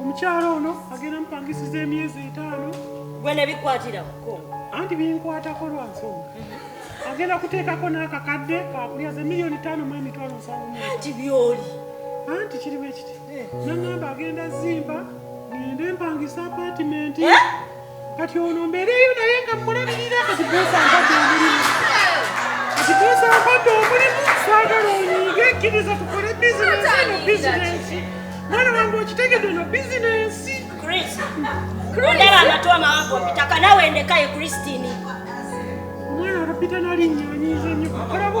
omukyala ono agenda mupangisiza emyezi etaano gwe nebikwatira kukongo anti binkwatako lwa nsonga mhm. agenda kuteekako n'akakadde kakulya ze miliyoni taano mu emitwalo nsanvu anti byoli anti kirimu ekiti eh. nangamba agenda zimba ngende mpangisa apatimenti eh? kati ono mbeereyo naye nga mmulabirira kati boosi ampadde omulimu kati boosi ampadde omulimu saagala onyiige kkiriza tukole bizinesi eno bizinesi mwana wange okitegedde eno bizinesi ondaba amatu amawanvu mpitaka nawe ndekaye kristini omwana abapita nalinnyonyiiza nnyo olaba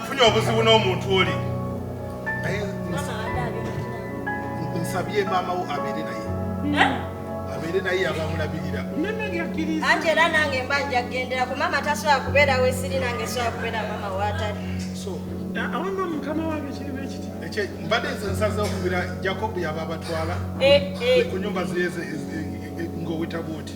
nfunye obuzibu n'omuntu oli naye nsabye maama wo abeere naye abeere naye abamulabirira anti era nange mba nja kugendera ku maama tasobola kubeera wesiri nange sobola kubeera maama waatali awamba mukama wange kirimu ekiti mbadde nze nsaza okubira jacob yaba abatwala eh, eh. ku nyumba zeyeze eh, ng'owetabuuti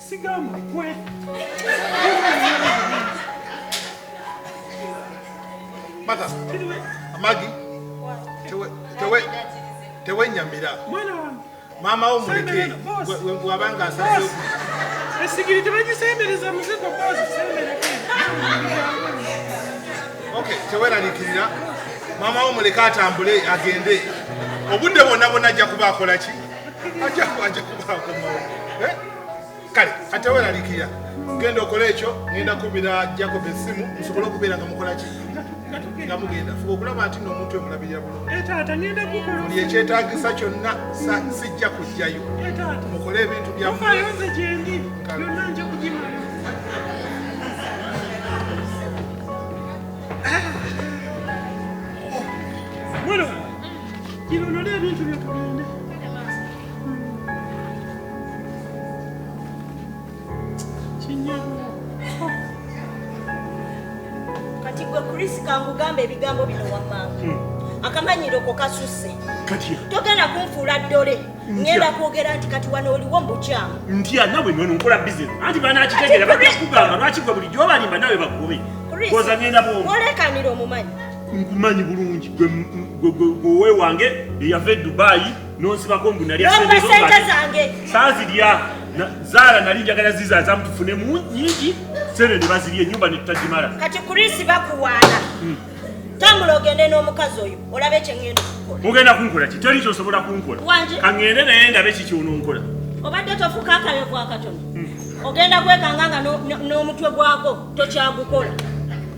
Sigamba gwe. Mata. Amagi. Tewe tewe tewe nyamira. Mwana wange. Mama wo muleke. Wabanga asase. Esigiri tebagisembereza muzigo bozi sembera. Okay, tewe nalikirira. Mama wo muleke atambule agende. Obudde bonna bonna ajja kuba akola ki? Ajja kuba akomawo. Eh? kale kati weralikira genda okola ekyo ngenda kubira jacob esimu musobole okubeera nga mukola ki nga mugenda fuba okulaba nti no omuntu emulabirira bulungi eh, ekyetagisa kyonna sijja kujjayo eh, mukole ebintu byamu kati gwe chris kankugamba ebigambo bino wamama hmm. akamanyiro ko kasusse togenda kunfuula ddole ngenda kwogera nti kati wano oliwo mubukyamu ntya nawe nono nkola bizinesi anti banakitegera bajja kugamba lwaki gwe bulijjo obalimba nawe bagobe koza ngenda bwomu olekanira omumanyi nkumanyi bulungi gwe wewange eyava e dubaayi nonsibako mbu nalya sente zange sazirya zaala nali njagala zizaza mutufune mu nyingi sente ne bazirya enyumba netutagimala kati kurisi bakuwaana hmm. tambula ogende n'omukazi oyo olabe ekyengenda okukola mugenda kunkola ki teri kyosobola kunkola kangende naye ndabe kikyononkola obadde tofuka akayovu akatono hmm. ogenda kwekanga nga n'omutwe gwako tokyagukola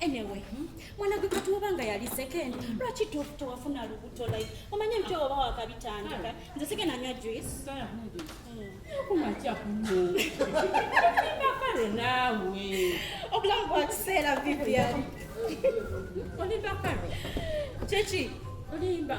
anyway hmm? mwana gwe katuoba nga yali second hmm. lwaki tewafuna lubuto like omanye mty oba wakabitandika hmm. nze sigenda nywa juiceakumakale naawe obulamu bwa kiseera vivian olimba kale kyeki olimba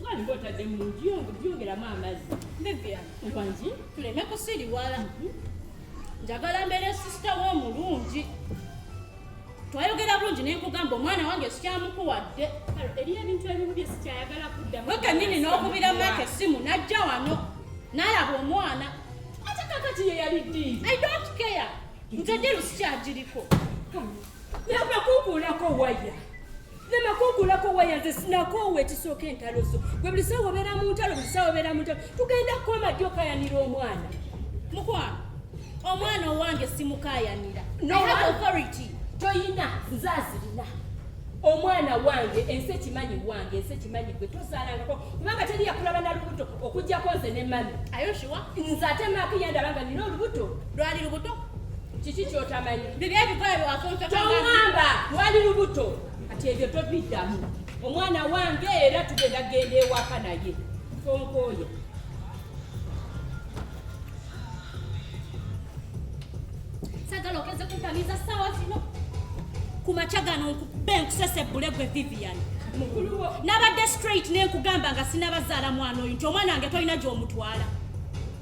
Mwalimu hmm? otadde mu byongeramu amazzi. Bibya. Wangi. Tuleme kusiriwala. Hmm? Njagala mbeere sisita wo omulungi. Twayogera bulungi ne nkugamba omwana wange sikyamukuwadde. Eriyo ebintu ebimu bye sikyayagala kuddamu. Gwe kennyini n'okubira maaka essimu n'ajja wano n'alaba omwana. Ate kakati ye yali ddi? I don't care. Nze ddi lusikyagiriko. Yava kukuulako waya. namakugulako waya nze sinakoowa ekisooka entalo zo gwe buli sawa obeera mu ntalo buli sawa obeera mu ntalo tugenda kukoma ddi okayanira omwana mukwano omwana owange simukayanira authority toyina nze azirina omwana wange ensi ekimanyi wange ensi ekimanyi gwe tozalangako kubanga teri yakulaba na lubuto okujjako nze ne mami ayoshiwa nze ate maakiyandaba nga nina olubuto lwali lubuto kiki kyotamanyi biri ebikola byewasontotongamba wali lubuto kati ebyo tobiddamu omwana wange era tugenda genda ewaka naye tonkooye sagala okeze kuntamiza saawa zino ku makya gano nkube nkusese bule gwe vivian nabadde straight nenkugamba nga sinabazaala mwana oyo nti omwana wange tolina gyomutwala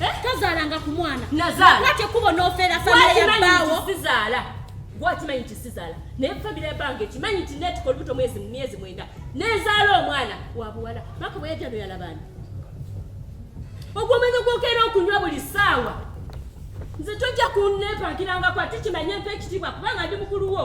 Eh, tozaalanga ku mwana nazaalaate kubo n'ofeera famire ya bbaawo sizaala gwakimanyi nti sizaala naye famire ya bbanga ekimanyi nti neetuka olubuto mwezi mu myezi mwenda nezaala omwana wa buwala maka bwe yajja noyalabaani ogwomwezi gwokeera okunywa buli saawa nze tojja kunneepangirangako ate kimanye mpa ekitiibwa kubanga ndi mukulu wo